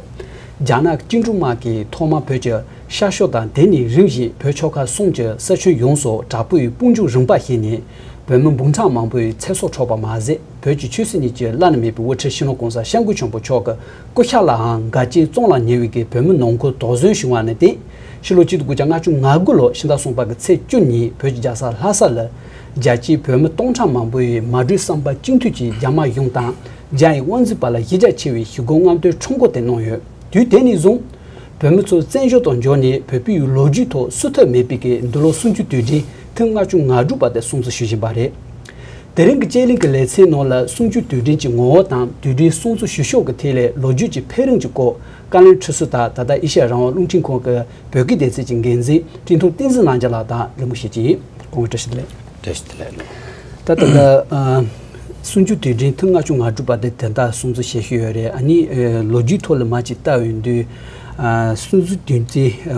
རྒྱ་ནག་བཅིངས་འགྲོལ་དམག་གིས་ཐོག་མར་བོད་ཀྱི་ཤར་ཕྱོགས་དང་དེ་ནས་རིམ་བཞིན་བོད་ཕྱོགས་ཁ་གསུམ་གྱི་ས་ཁྱོན་ཡོངས་སུ་དྲག་པོའི་དཔུང་འཇུག་རིམ་པར་ཞིག་ནས་བོད་མི་འབུམ་ཕྲག་མང་པོའི་ཚེ་སྲོག་འཕྲོག་པ་མ་ཟད་བོད་ཀྱི་ཆོས་སྲིད་གཉིས་ཀྱི་བླ་ན་མེད་པའི་དབུ་ཁྲིད་ཤིང་ལོ་ཀོང་ས་ཤར་མགོན་ཆེན་པོ་མཆོག་གི་སྐུ་ཤ་ལའང་དགའ་སྐྱིད་བཙོང་ལ་ཉེ་བའི་བོད་མི་ནང་ཁུལ་དོགས་ཟོན་བྱུང་བ་ནི་དེ་ཕྱི་ལོ་གཅིག་དགུ་བརྒྱ་ལྔ་བཅུ་ང་དགུ་ལོར་ཕྱི་ཟླ་གསུམ་པ་གི་ཚེས་བཅུ་ཉིན་བོད་ཀྱི་རྒྱལ་ས་ལྷ་ས་ལ། རྒྱལ་སྤྱིའི་བོད་མི་སྟོང་ཕྲག་མང་པོ་ཡིས་མ་གྲོས་བསམ་པ་གཅིག་མཐུན་གྱིས་རྒྱ་དམག་གཞུང་དང་རྒྱ་ཡི་དབང་འཛིན་པ་ལ་གཞི་རྒྱ་ཆེ་བའི་ཞི་རྒོལ་རྔམ་སྟོན་ཁྲོམ་སྐོར་དེ་གནང་ཡོད། དུས་དེ་ནས་བཟུང། བོད་མི་ཚོ་བཙན་བྱོལ་དུ་འབྱོར་ནས་བོད་པི་ཡུལ་ལོ་རྒྱུས་ཐོག་བསུ་ཐབས་མེད་པི་གི་འདི་ལོ་སུམ་ཅུ་དུས་དྲན་ཐེངས་ལྔ་བཅུ་ང་དྲུག་པ་དེ་སྲུང་བརྩི་ཞུ་བཞིན་པ་རེད། དེ་རིང་གི་དཔྱད་གླེང་གི་ལེ་ཚན་ནང་ལ་སུམ་ཅུ་དུས་དྲན་གྱི་ངོ་བོ་དང་དུས་དྲན་སྲུང་བརྩི་ཞུ་ཕྱོགས་ཀྱི་ཐད་ལས་ལོ་རྒྱུས་ཀྱི་འཕེལ་རིམ་གྱི་སྐོར་བཀའ་བློན་ཁྲི་ཟུར་དང་ད་ལྟ་ཨེ་ཤ་ཡ་རང་དབང་རླུང་འཕྲིན་ཁང་གི་བོད་སྐད་སྡེ་ཚན་གྱི་འགན་འཛིན་བཀྲིས་མཐོང་བསྟན་འཛིན་གནང་བྱ་ལགས་དང་ལི་མོ་ཞེ་ཅིན། ཀོང་བཀྲ་ཤིས་ལེགས། བཀྲ་ཤིས་ལེགས་ལོ། ད་ལྟ། གསུང་ཆོས་དུས་དྲན་ཐུང་ལྔ་བཅུ་ང་དྲུག་པ་དེ་དེ་དག་སོང་ཚུལ་བཤད་ཤེས་ཡོད་རེད་ཨ་ནི་ལོ་རྒྱུས་ཐོག་ལ་མ་ཅིག་བལྟ་འོས་འདུག། གསུང་ཆོས་དུས་དྲན་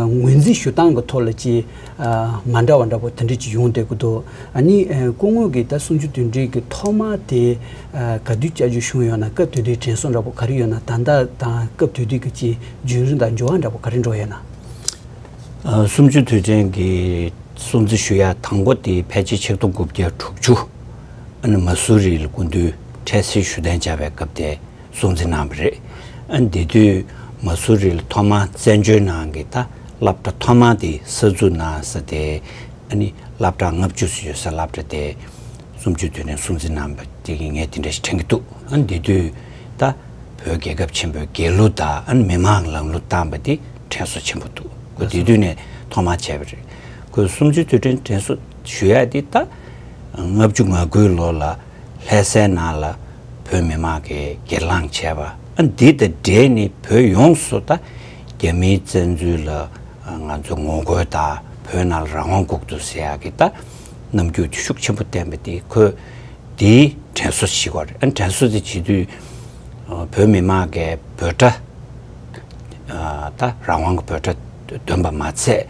ངོས་འཛིན་ཞུ་སྟངས་ཀྱི་ཐོག་ལ་ཅིག། མ་འདྲ་བ་འདྲ་པོ་དེ་འདྲས་ཀྱིས་ཡོང་བསྡད་ཀྱི་འདུག་ཨ་ནི་སྐུ་དངོས་ཀྱིས་ད་སུམ་ཅུ་དོན་དྲུག་གི་ཐོག་མ་དེ་ག་དུས་བསྐྱལ་རྒྱུ་བྱུང་ཡོད་ན་སྐབས་དུས་དེའི་དྲན་གསོ་འདྲ་པོ་ག་རེ་ཡོད་ན་ད་ལྟ་དང་སྐབས་དུས་དུས་ཀྱི་ཅི་རྒྱུན་རིང་དང་འགྱུར་བ་འདྲ་པོ་ག་རེ་འགྲོ་ཡོད་ན། སུམ་ཅུ་དུས་དྲན་གྱི་སྲུང་བརྩི་ཞུ་ཡ་དང་པོ་དེ་ཕལ་ཆེར་ཕྱི་སྟོང་དགུ་བརྒྱ་དྲུག་ཅུ་ཨ་ནི་མ་སུ་རི་ལ་སྐུ་མདུན་འཕྲལ་སེལ་ཞུ་གཏན་བཅར་བའི་སྐབས་དེ་གསུང་འཛིན་གནང་བ་རེད། དེ་དུས་མ་སུ་རི་ལ་ཐོག་མར་བཙན་བྱོལ་ནང་གི་ད་བསླབ་གྲྭ་ཐོག་མ་དེ་གསར་འཛུགས་གནང་ས་དེ། བསླབ་གྲྭ་ལྔ་བཅུ་སུ་ཡོད་ས་བསླབ་གྲྭ་དེ་སུམ་བཅུ་དུས་ནས་གསུང་འཛིན་གནང་བ་དེ་གི་ངས་དེ་འདྲ་ཞིག་དྲན་གི་འདུག་དེ་དུས་ད་བོད་རྒྱལ་ཁབ་ཆེན་པོའི་རྒྱལ་གླུ་དང་མི་མང་ལང་གླུ་བཏང་བ་དེ་དྲན་གསོ་ཆེན་པོ་འདུག་ཁོས་དེ་དུས་ནས་ཐོག་མར་བྱས་པ་རེད། ཁོས་སུམ་བཅུ་དུས་དྲན་དྲན་གསོ་ཞུ་ཡ་དེ་ད་ལྔ་བཅུ་ང་དགུའི་ལོ་ལ། ལྷད་སའི་ནང་ལ་བོད་མི་མང་གིས་སྒེར་ལངས་བྱས་པ་འདི་དང་འབྲེལ་ནས་བོད་ཡོངས་སུ་དང་རྒྱ་མིའི་བཙན་འཛུལ་ལ་ང་ཚོས་ངོ་རྒོལ་དང་བོད་ནང་ལ་རང་དབང་འགུག་ཐུབ་ཟེར་ཡག་གི་དང་རྣམ་འགྱུར་ཤུགས་ཆེན་པོ་བསྟན་པ་འདི་ཁོས་འདི་དྲན་གསོ་བྱེད་དགོས་རེད་དྲན་གསོ་དེ་བྱེད་དུས་བོད་མི་མང་གིས་འབོད་སྒྲ་དང་རང་དབང་གི་འབོད་སྒྲ་འདོན་པ་མ་ཚད་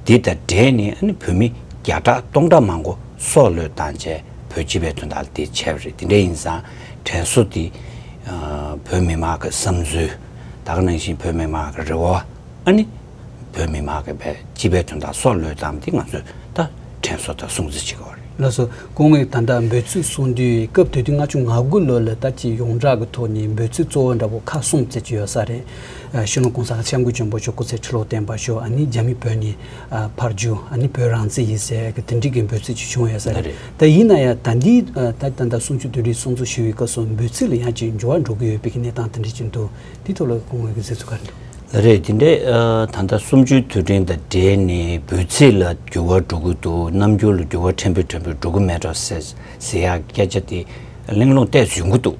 འདི་དང་འབྲེལ་ནས་བོད་མི་བརྒྱ་ཕྲག་སྟོང་ཕྲག་མང་པོ། སྲོག་བློས་བཏང་བྱས་བོད་སྤྱི་པའི་དོན་དག་ལ་དེ་འཆལ་བ་རེད་དེ་འདྲ་ཡིན་ཙང་དྲན་གསོ་དེ། བོད་མི་དམངས་ཀྱི་བསམ་ཚུལ་དག་ནང་བཞིན་བོད་མི་དམངས་ཀྱི་རེ་བ་ཨ་ནི། བོད་མི་དམངས་ཀྱི་བའི་སྤྱི་པའི་དོན་དག་སྲོག་བློས་བཏང་བ་དེ་ང་ཚོས་ད་དྲན་གསོ་དང་སྲུང་བརྩི་བྱེད་དགོས་བ་རེད། ལགས་སོ། སྐུ་ངོས་ད་ལྟ་འབོད་ཚིག་གསུང་དུས་སྐབས་དུས་དུས་ལྔ་བཅུ་ང་དགུ་ལོ་ལ་ད་ཅི་ཡོངས་གྲགས་ཀྱི་ཐོག་ནས་འབོད་ཚིག་གཙོ་བོ་འདྲ་བོ་ཁག་གསུམ་བརྩི་གྱི་ཡོད་ས་རེད། ཤུ་ནུ་ཀོང་ས་ལ་ཆབ་མགོན་ཆེན་པོ་མཆོག་སྐུ་ཚེ་ཁྲི་ལོ་བརྟན་པ་ཤོག་ཨ་ནི་རྒྱ་མི་བོད་ནས་ཕར་རྒྱུ་ཨ་ནི་བོད་རང་བཙན་ཡིན་ཟེར་གི་དེ་འགྲིག་གི་འབོད་ཚིག་ཅིག་བྱུང་ཡོད་ས་རེད་ད་ཡིན་ན་ཡང་ད་འདིའི་ད་ད་ལྟ་སུམ་ཅུ་དོན་རེའི་ཚོགས་འདུ་ཞུ་ཡི་སྐབས་སུ་འབོད་ཚིག་ལ་ཡང་ཅིག་འགྱུར་བ་འགྲོ་གི་ཡོད་པའི་གནས་སྟངས་དེ་འདྲ་ཅིག་འདུག་དེའི་ཐོག་ལ་སྐུ་ངོས་ཀྱི་གཟིགས་ཚུལ་ག་རེ་འདུག། རེད་དེ་འདྲས་ད་ལྟ་སུམ་ཅུའི་དུས་དྲན་དང་འབྲེལ་ནས་འབོད་ཚིག་ལ་འགྱུར་བ་འགྲོ་གི་འདུག་རྣམ་འགྱུར་ལ་འགྱུར་བ་ཕྲན་བུ་ཕྲན་བུ་འགྲོ་གི་མེད་རོགས་ཟེར་ཟེར་ཡག་སྐད་ཆ་དེ་གླེང་སློང་བལྟས་ཟོན་གི་འདུག་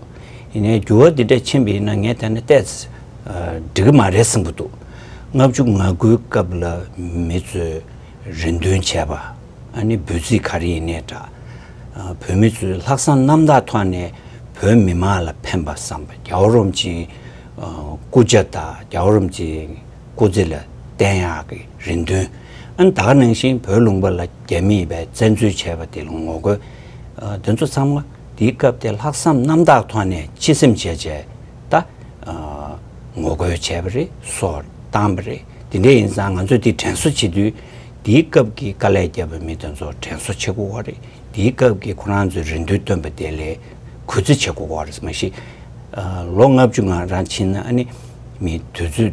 ཡིན་ནའི་འགྱུར་བ་དེ་འདྲས་ཕྱིན་པའི་ན་ངས་ད་ནི་བལྟས་འགྲིག་གི་མ་རེད་བསམ་གི་འདུག། ལྔ་བཅུ་ང་དགུའི་སྐབས་ལ་མི་ཚོས་རེ་འདུན་བྱས་པ། ཨ་ནི་འབོད་ཚིག་ག་རེ་ཡིན་ནས་འདྲ། བོད་མི་ཚོས་ལྷག་བསམ་རྣམ་དག་ཐོག་ནས་བོད་མི་མང་ལ་ཕན་པ་བསམ་པ་རྒྱ་བོ་རོམ་གྱི་སྐུ་ཇག་དང་རྒྱ་བོ་རོམ་གྱི་སྐུ་ཚེ་ལ་བརྟན་ཡག་གི་རེ་འདུན། ཨ་ནི་ད་ག་ནང་བཞིན་བོད་ལུང་པ་ལ་རྒྱ་མིས་བས་བཙན་འཛུལ་བྱས་པ་དེ་ལ་ངོ་རྒོལ། འདི་ཚོ་ཚང་མ་དེའི་སྐབས་དེ་ལྷག་བསམ་རྣམ་དག་ཐོག་ནས་སྤྱི་སེམས་བྱས་བྱས་ད། ངོ་རྒོལ་བྱས་པ་རེད་སོགས་བཏང་བ་རེད། དེ་འདྲ་ཡིན་ཙང་ང་ཚོས་འདི་དྲན་གསོ་བྱེད་དུས། དེའི་སྐབས་ཀྱི་དཀའ་ལས་བརྒྱབ་པའི་མི་དེ་ཚོ་དྲན་གསོ་བྱེད་དགོས་བ་རེད། དེའི་སྐབས་ཀྱི་ཁོ་རང་ཚོའི་རེ་འདུན་བཏོན་པ་དེ་ལས་གུས་བརྩི་བྱེད་དགོས་བ་རེད། མ་གཞི། ལོ་ལྔ་བཅུ་ང་རང་ཕྱིན་ན་ཨ་ནི། མི་དེ་ཚོས།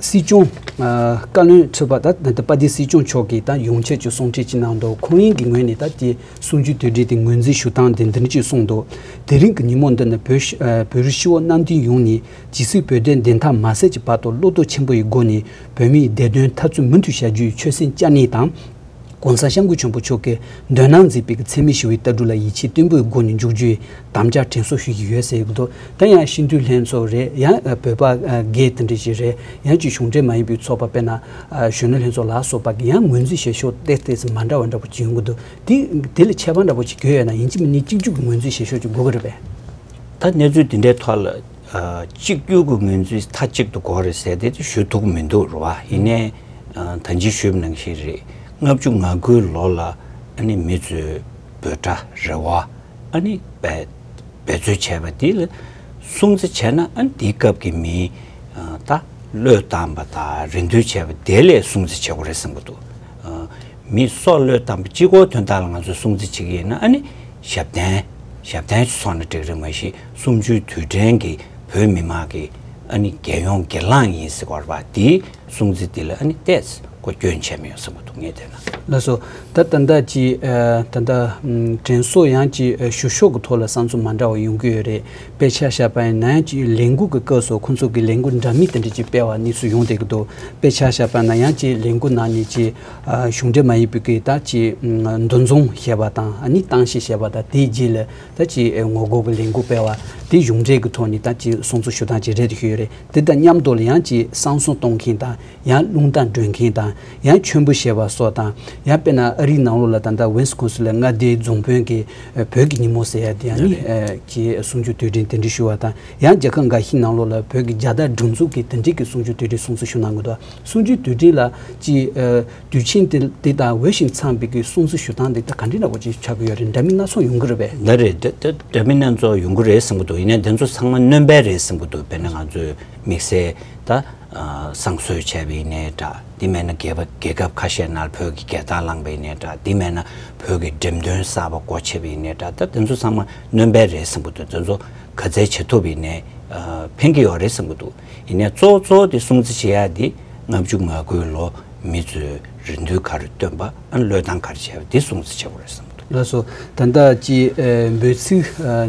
སྲིད་སྐྱོང་བཀའ་བློན་ཁྲི་པ་དང་པ་ཏི་སྲིད་སྐྱོང་མཆོག་གིས་ད་ཡོང་ཆེད་ཅིག་གསུང་འཕྲིན་ཅིག་གནང་འདུག་ཁོང་རིང་གི་ངོས་ནས་ད་ཀྱི་གསུང་ཆོས་དུས་དྲིལ་དེ་ངོས་འཛིན་ཞུ་སྟངས་དེ་འདིར་ཅིག་གསུང་འདུག་དེ་རིང་གི་ཉིན་མོ་འདི་ནི་བོད་རིགས་ཤི་བོ་གནམ་བསྟན་ཡོངས་ནས་ཇི་སྲིད་བོད་དོན་བདེན་མཐའ་མ་གསལ་གྱི་བར་དུ་བློ་སྟོབས་ཆེན་པོ་ཡི་སྒོ་ནས་བོད་མིའི་བདེ་དོན་འཐབ་རྩོད་མུ་མཐུད་བྱ་རྒྱུའི་ཆོད་སེམས་བཅངས་ནས་དང། ྋགོང་ས ྋསྐུ་ཆེན་པོ་མཆོག་གིས་འདོད་སྣང་མཛད་པའི་འཚེ་མེད་ཞི་བའི་ལྟ་གྲུབ་ལ་ཡིད་ཆེས་བརྟན་པོའི་སྒོ་ནས་འཇུག་རྒྱུའི་དམ་བཅའ་དྲན་གསོ་ཞུ་ཡི་ཡོད་ཟེར་འདུག་དེ་ཡང་སྤྱི་འཐུས་ལྷན་ཚོགས་རེད་ཡང་བོད་པ་འགས་དེ་འདྲ་ཞིག་རེད་ཡང་སྤྱི་གཞུང་འབྲེལ་མ་ཡིན་པའི་ཚོགས་པ་དཔེར་ན་གཞོན་ནུ་ལྷན་ཚོགས་ལ་སོགས་པ་གིས་ཡང་ངོས་འཛིན་བྱེད་ཕྱོགས་སྟེགས་སྟེགས་མ་འདྲ་བ་འདྲ་པོ་ཅིག་ཡོང་གི་འདུག་དེ་དེ་ལས་ཁྱད་པར་འདྲ་པོ་ཅིག་གྱོན་ཡོད་ན་ཡིན་གཅིག་མིན་གཉིས་གཅིག་འཇུག་གི་ངོས་འཛིན་བྱེད་ཕྱོགས་ཅིག་དགོས་ཀྱི་རེད་པས། ད་གནས་ཚུལ་དེ་འདྲའི་ཐོག་ལ་གཅིག་གྱུར་གྱི་ངོས་འཛིན་མཐའ་གཅིག་ཏུ་གོ་རེ་ཟེར་དེ་ཞུ་ཐུག་མི་འདུག་རེད་བ། ཡིན་ནའི་ད་འཇིགས་ཞུབ་ནང་བཞིན་རེད། ལྔ་བཅུ་ང་དགུའི་ལོ་ལ་ཨ་ནི་མི་ཚོས་འབོད་སྒྲ་རེད་བ། ཨ་ནི་འབད་རྩོལ་བྱས་པ་དེ་ལ་སྲུང་བརྩི་བྱས་ན་ཨ་ནི་དེའི་སྐབས་ཀྱི་མིའི་ད་བློས་བཏང་པ་དང་རེ་འདུན་བྱས་པ་དེ་ལས་སྲུང་བརྩི་བྱེད་དགོས་རེད་བསམ་གྱི་འདུག། མིས་སྲོག་བློས་བཏང་པ་གཅིག་གོ་དོན་དག་ལ་ང་ཚོས་སྲུང་བརྩི་བྱེད་ཀྱི་ཡིན་ན་ཨ་ནི་ཞབས་བརྟན། ཞབས་བརྟན་ཞུ་སོང་ན་འགྲིག་རེད་མ་གཞི་གསུམ་བཅུའི་དུས་དྲན་གྱི་བོད་མི་དམངས་ཀྱི་ཨ་ནི་རྒྱལ་ཡོངས་སྒེར་ལངས་ཡིན་ཟེར་བར་བ་དེའི་གསུང་ཚིག་དེ་ལ་ཨ་ནི་བལྟས་ཚེ་གོ་སྐྱོན་ཆེན་པོ་ཡོང་ས་མ་འདུག་ངས་བལྟས་ན། ལགས་སོ། ད་ལྟ་ད་ཅི། ད་ལྟ། དྲན་གསོ་ཡང་ཅི་ཞུ་ཤོག་གི་ཐོག་ལ་བསམ་ཚུལ་མ་འདྲ་བ་ཡོང་གི་ཡོད་རེད་དཔེ་ཆ་བཞག་པ་ཡིན་ན་ཡང་ཅི་ལས་འགུལ་གྱི་སྐབས་སུ་ཁོང་ཚོ་གི་ལས་འགུལ་འདྲ་མིན་དེ་འདྲ་ཅིག་སྤེལ་བ་གནས་ཚུལ་ཡོང་བསྡད་ཀྱི་འདུག་དཔེ་ཆ་བཞག་པ་ན་ཡང་ཅི་ལས་འགུལ་ནང་ནས་ཅི། གཞུང་འབྲེལ་མ་ཡིན་པའི་གིས་ད་ཅི་འདུ་འཛོམས་ཞེས་པ་དང་ནི་བཏང་ཞེས་བཤད་པ་དང་དེའི་རྗེས་ལ་ད་ཅི་ངོ་རྒོལ་གྱི་ལས་འགུལ་སྤེལ་བ་དེ་གཞུང་འབྲེལ་གྱི་ཐོག་ནས་ད་ཅི་སྲུང་གཙི་ཞུ་སྟངས་ཅིག་རེད་དེ་ཞུས་རེད་དེ་དང་མཉམ་དུ་ལ་ཡང་ཅི་བསང་གསུང་གཏོང་མཁན་དང་ཡང་རླུང་རྟ་སྒྲོན་མཁན་དང་ཡང་མཆོད་འབུལ་བྱེད་པ་སོགས་དང་ཡང་དཔེར་ན་ཨ་རིའི་ནང་ལོགས་ལ་ད་ལྟ་ཝེན་སི་ཁོན་སི་ལ་མངའ་སྡེའི་རྫོང་དཔོན་གྱི་བོད་ཀྱི་ཉིན་མོ་ཟེར་ཡ་དེ་ཡང་ནི་ཅི་གསུང་ཆོས་དུས་དྲན་དེ་འབྲེལ་ཞུ་བ་དང་ཡང་རྒྱལ་ཁབ་འགའ་ཞིག་ནང་ལོགས་ལ་བོད་ཀྱི་རྒྱ་དར་སྒྲེང་འཛུགས་ཀྱི་དེ་འབྲེལ་གྱི་གསུང་ཆོས་དུས་དྲན་སྲུང་གཙི་ཞུ་གནང་དགོས་འདུག། སུམ་ཅུའི་དུས་དྲན་ལ་ཅི། དུས་ཆེན་འདི་དང་འོས་ཤིང་འཚམས་པའི་གསུང་གསོལ་ཞུ་སྟངས་འདི་ད་ག་འདྲི་འདྲ་བོ་ཅིག་ཆགས་ཀྱི་ཡོད་རེད་འདྲ་མིན་སྣ་ཚོགས་ཡོང་གི་རེད་པས། འདི་རེད། འདྲ་མིན་སྣ་ཚོགས་ཡོང་གི་རེད་བསམ་གྱི་འདུག་ཡིན་ན་འདི་ཚོ་ཚང་མ་གནོན་པའི་རེད་བསམ་གྱི་འདུག་དཔེར་ན་ང་ཚོས་དམིགས་བསལ་ད། བསང་གསོལ་བྱས་པ་ཡིན་ནའི་འདྲ་དེ་མེད་ན་རྒས་པ་རྒས་ཁབ་ཁ་ཤས་ནར་བོད་ཀྱི་རྒས་རྟགས་བླངས་པ་ཡིན་ནའི་འདྲ་དེ་མེད་ན་བོད་ཀྱི་འགྲེམས་སྟོན་གསར་པ་སྒོ་ཕྱེ་བ་ཡིན་ནའི་འདྲ་ད་འདི་ཚོ་ཚང་མ་གནོན་པའི་རེད་བསམ་གྱི་འདུག་འདི་ཚོ་ག་ཚད་བྱེད་ཐུབ་ཡིན་ནའི་ཕན་གྱི་ཡོད་རེད་བསམ་གྱི་འདུག། ཡིན་ནས་གཙོ་བོ་གཙོ་བོ་དེ་སྲུང་བརྩི་བྱེད་ཡག་འདི་ལྔ་བཅུ་ང་དགུའི་ལོ་མི་ཚོའི་རེ་འདུན་གར་བཏོན་པ་བློས་བཏང་གར་བྱས་པ་འདི་སྲུང་བརྩི་བྱེད་དགོས་རེད་བསམ། ལགས་སོ། ད་ལྟ་སྤྱི་འབོད་ཚིག་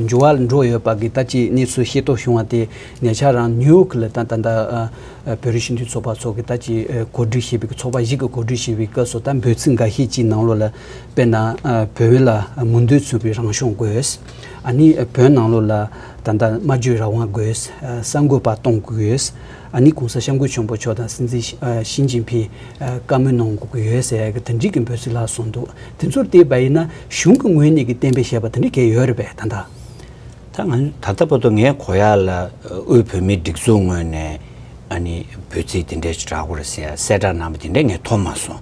འབྱོར་བ་ལ་འགྲོ་ཡོད་པ་གི་ད་ཅི་གནས་ཚུལ་ཤེས་རྟོགས་བྱུང་བ་དེ་ཉེ་ཆར་རང་ནིའུ་ཡོག་གི་ལ་དྭགས་ད་ལྟ་བོད་རིགས་ཞིབ་འཇུག་ཚོགས་པ་ཚོ་གི་ད་ཅི་གོ་སྒྲིག་བྱས་པའི་གི་ཚོགས་པ་ཞིག་གི་གོ་སྒྲིག་བྱས་པའི་སྐབས་སུ་ད་འབོད་ཚིག་འགའ་ཤས་ཅིག་ནང་ལོ་ལ་དཔེར་ན། བོད་ལ་མུ་མཐུད་ཚུད་པའི་རང་སྐྱོང་དགོས། ཨ་ནི་བོད་ནང་ལོགས་ལ་ད་ལྟ་སྨྲ་བརྗོད་རང་དབང་དགོས། གསར་འགོད་པ་གཏོང་དགོས། ཨ་ནི་གོང་ས་ཤམ་བུ་ཆེན་པོ་མཆོག་དང་སྲིད་འཛིན་ཞིན་ཅིན་ཕིན་བཀའ་མོལ་གནང་དགོས། དེ་འགྲིག་གི་འབོད་ཚིག་ལ་སོང་འདུག་དེ་ཚོར་བལྟས་པ་ཡིན་ན་གཞུང་གི་ངོས་ནས་ཀྱི་བསྟན་པའི་བཤད་པ་དེ་འདྲ་གས་ཡོད་རེད་པས་ད་ལྟ། ད་ང་ད་ལྟ་བར་དུ་ངའི་གོ་ཡ་ལ་དབུས་བོད་མིའི་སྒྲིག་འཛུགས་ངོས་ནས་ཨ་ནི་འབོད་ཚིག་དེ་འདྲས་ཆུ་དྲག་པོ་རེད་ཟེར་ཡ་གསལ་བསྒྲགས་གནང་པ་དེ་འདྲས་ངས་མཐོང་མ་སོང།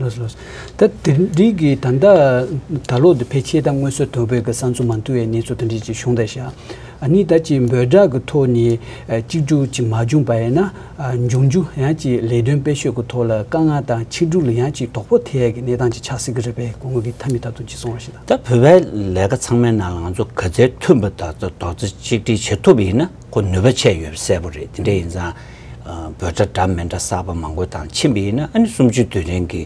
ལོས་ལོས། ད་དེ་རིགས་ཀྱི་ད་ལྟ་ད་ལོ་དེ་ཕལ་ཆེར་ད་དངོས་གསོལ་དོལ་པོའི་གི་གསང་ཚུལ་མ་མཐུ་བའི་གནས་ཚུལ་དང་འབྲེལ་ཅིག་གཞུང་དང་ཞག་གཉིས་ད་ཅིག་འབོད་སྒྲག་གི་ཐོག་ནས་གཅིག་འགྲུག་ཅིག་མ་བྱུང་པ་ཡིན་ན་འབྱུང་འགྱུ་ཡང་ཅིག་ལས་དོན་སྤེལ་ཤོས་གི་ཐོག་ལ་དཀའ་ངལ་དང་ཆིག་འགྲུག་ལ་ཡང་ཅིག་དོག་པོ་ཐེ་ཡག་གི་གནས་སྟངས་ཅིག་ཆགས་སྲིད་གི་རེད་པས་གོ་དངུལ་གི་ཐ་མི་ད་དུང་ཅིག་སོང་བ་ཞིག་དང། ད་བོད་པའི་ལས་ཀ་ཚང་མའི་ནང་ལ་ང་ཚོ་ག་ཚད་མཐུན་པ་དག་ཚོ་དོག་ཚེ་གཅིག་སྒྲིག་བྱེད་ཐུབ་པ་ཡིན་ན། ཁོ་ནུས་པ་ཆད་ཡོད་པ་གསལ་པོ་རེད་དེ་འདྲ་ཡིན་ཙང། འབོད་སྒྲ་འདྲ་མི་འདྲ་གསར་པ་མང་པོ་དང་མཆིན་པ་ཡིན་ན་ཨ་ནི་གསུམ་བཅུ་དུས་དྲན་གྱི་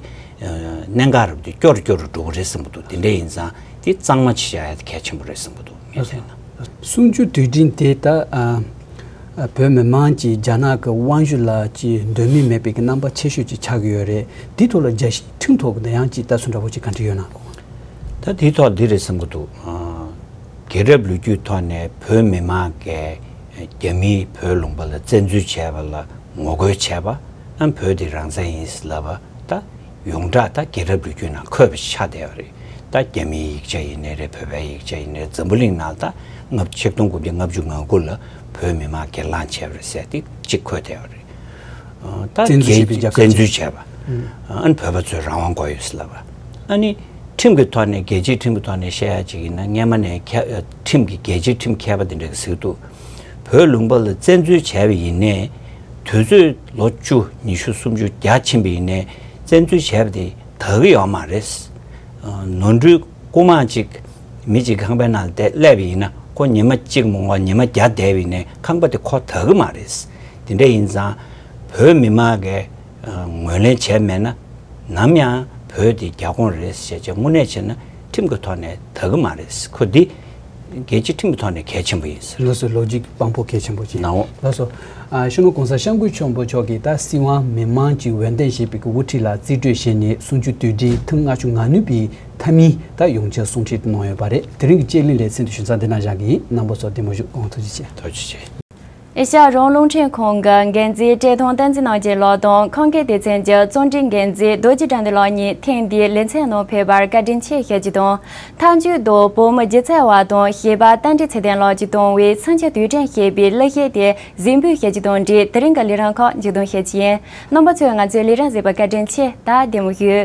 གནད་འགག་རེད་བསྡུས་སྐྱོ་རུ་སྐྱོ་རུ་འགྲོ་གི་རེད་བསམ་གྱི་འདུག་དེ་འདྲ་ཡིན་ཙང་དེ་གཙང་མ་བྱེད་ཡག་ཡག་དེ་གལ་ཆེན་པོ་རེད་བསམ་གྱི་འདུག་ངས་བལྟས་ན། གསུམ་བཅུ་དུས་དྲན་དེ་ད་བོད་མི་དམངས་ཀྱིས་རྒྱ་ནག་གི་དབང་བཞུ་ལ་ཅི་འདོད་མིན་མེད་པའི་གི་རྣམ་པ་ཆེ་ཤོས་ཅིག་ཆགས་གི་ཡོད་རེད་དེའི་ཐོག་ལ་རྒྱ་ཁྲིམས་ཐོག་གི་འདི་ཡང་ཅིག་ལྟ་ཚུལ་འདྲ་པོ་ཅིག་ག་འདྲི་ཡོད་ན། ད་དེའི་ཐོག་འདི་རེད་བསམ་གྱི་འདུག། དགེ་རབ་ལོ་རྒྱུས་ཐོག་ནས་བོད་མི་མང་གིས་རྒྱ་མིས་བོད་ལུང་པ་ལ་བཙན་འཛུལ་བྱས་པ་ལ་ངོ་རྒོལ་བྱས་པ། བོད་དེ་རང་བཙན་ཡིན་ལབ་པ་ད་ཡོངས་གྲགས་ད་དགེ་རབ་ལོ་རྒྱུས་ནང་འཁོད་པ་ཆགས་བསྡད་པ་རེད་ད་རྒྱ་མིའི་ཡིག་ཆ་ཡིན་ནི་རེད་བོད་པའི་ཡིག་ཆ་ཡིན་ནི་རེད་འཛམ་བུ་གླིང་ནང་ད་སྔ་ཕྱི་སྟོང་དགུ་བརྒྱ་ལྔ་བཅུ་ང་དགུ་ལ་བོད་མི་མང་སྒེར་ལངས་བྱས་པ་རེད་ཟེར་ཏེ་གཅིག་འཁོད་བསྡད་པ་རེད། ད་བཙན་འཛུལ་བྱས་པའི་རྒྱ་གར་བཙན་གཅིག་འཛུལ་བྱས་པ། བོད་པ་ཚོས་རང་དབང་དགོས་ཡོད་ལབ་པ། ཨ་ནི། ཁྲིམས་ཀྱི་ཐོག་ནས་རྒྱལ་སྤྱིའི་ཁྲིམས་ཀྱི་ཐོག་ནས་བཤད་ཡག་ཅིག་ཡིན་ན་སྔན་མ་ནས་ཁྲིམས་ཀྱི་རྒྱལ་སྤྱིའི་ཁྲིམས་མཁས་པ་དེ་འདྲ་གི་ཟིག་འདུག་བོད་ལུང་པ་ལ་བཙན་འཛུལ་བྱས་པ་ཡིན་ནས། དུས་ཚོད་ལོ་བཅུ་ཉི་ཤུ་སུམ་ཅུ་བརྒྱ་ཕྱིན་པ་ཡིན་ནས་བཙན་འཛུལ་བྱས་པ་དེ་དག་གི་ཡོག་མ་རེད། ནོར་འཁྲུལ་རྐུ་མ་ཅིག་མི་ཅིག་ཁང་པའི་ནང་བསྡད་སླེབས་པ་ཡིན་ན་ཁོ་ཉི་མ་གཅིག་མོ་འོག་ཉི་མ་བརྒྱ་བསྡད་པ་ཡིན་ནས་ཁང་པ་དེ་ཁོ་དག་གི་མ་རེད། དེ་འདྲ་ཡིན་ཙང་བོད་མི་མང་གི་ངོས་ལེན་བྱས་མེད་ན། ནམ་ཡང་བོད་འདི་རྒྱ་ཁོངས་རེད་ཞེས་ཆེས་དངོས་གནས་བྱས་ན་ཁྲིམས་ཀྱི་ཐོག་ནས་དག་གི་མ་རེད་ཁུ་འདི། རྒྱལ་སྤྱི་ཁྲིམས་ཀྱི་ཐོག་ནས་གལ་ཆེན་པོ་ཡིན། ལགས་སོ་ལོ་རྒྱུས་དཔང་པོ་གལ་ཆེན་པོ་ཞིག་ལགས་སོ། ཤོ་ནོ་གོང་ས་ཤངས་ཀུན་མཆོག་འབོ་ཆོག་གིས་ད་སྲིད་དབང་མི་མང་གྱི་འོས་འདེམས་ཞེས་པའི་གི་དབུ་ཁྲིད་ལ་རྩིས་སྤྲོད་བྱས་ནས་སུམ་ཅུ་དུས་དྲན་ཐུང་ལྔ་བཅུ་ང་ནུས་པའི་མཐའ་མིན་ད་ཡོང་ཆེད་གསུང་ཁྲིད་གནང་ཡོད་པ་རེད་དེ་རིང་གི་དཔྱད་གླེང་ལས་ཚན་དུ་ཞུ་ཚགས་འདི་ན་བཞག་གི་ཡིན་གནང་པོ་ཚོ་བདེ་མོ་བཞུགས་དགོངས་ཐུགས་རྗེ་ཆེ། ཐུགས་རྗེ་ཆེ། ཨེ་ཤ་ཡ་རོང་རླུང་འཕྲིན་ཁང་གི་འགན་འཛིན་བཀྲས་མཐོང་བསྟན་འཛིན་གནང་སྦྱིན་ལགས་དང་ཁང་ཀའི་སྡེ་ཚན་གྱི་གཙོ་འགྲིག་འགན་འཛིན་རྡོ་རྗེ་དགྲ་འདུལ་ལགས་གཉིས་ཐེངས་འདིའི་ལེ་ཚན་ནང་ཕེབས་པར་བཀའ་དྲིན་ཆེ་ཞུ་རྒྱུ་དང། མཐའ་མཇུག་ཏུ་བོད་མི་སྒྱུ་རྩལ་བ་དང་ཤེས་པ་རྟ་མགྲིན་ཚེ་བརྟན་ལགས་ཀྱིས་བཏང་བའི་འཚོ་བྱེད་དུས་དྲན་ཞེས་པའི་གླུ་གཞས་དེ་གཟིགས་འབུལ་ཞུ་རྒྱུ་དང་འབྲེལ་དེ་རིང་གི་ལས་རིམ་ཁག་མཇུག་བསྡོམས་ཞུ་རྒྱུ་ཡིན། རྣམ་པ་ཚོས་ང་ཚོའི་ལས་རིམ་གཟིགས་པར་བཀའ་དྲིན་ཆེ་ད་བདེ་མོ་ཞུ།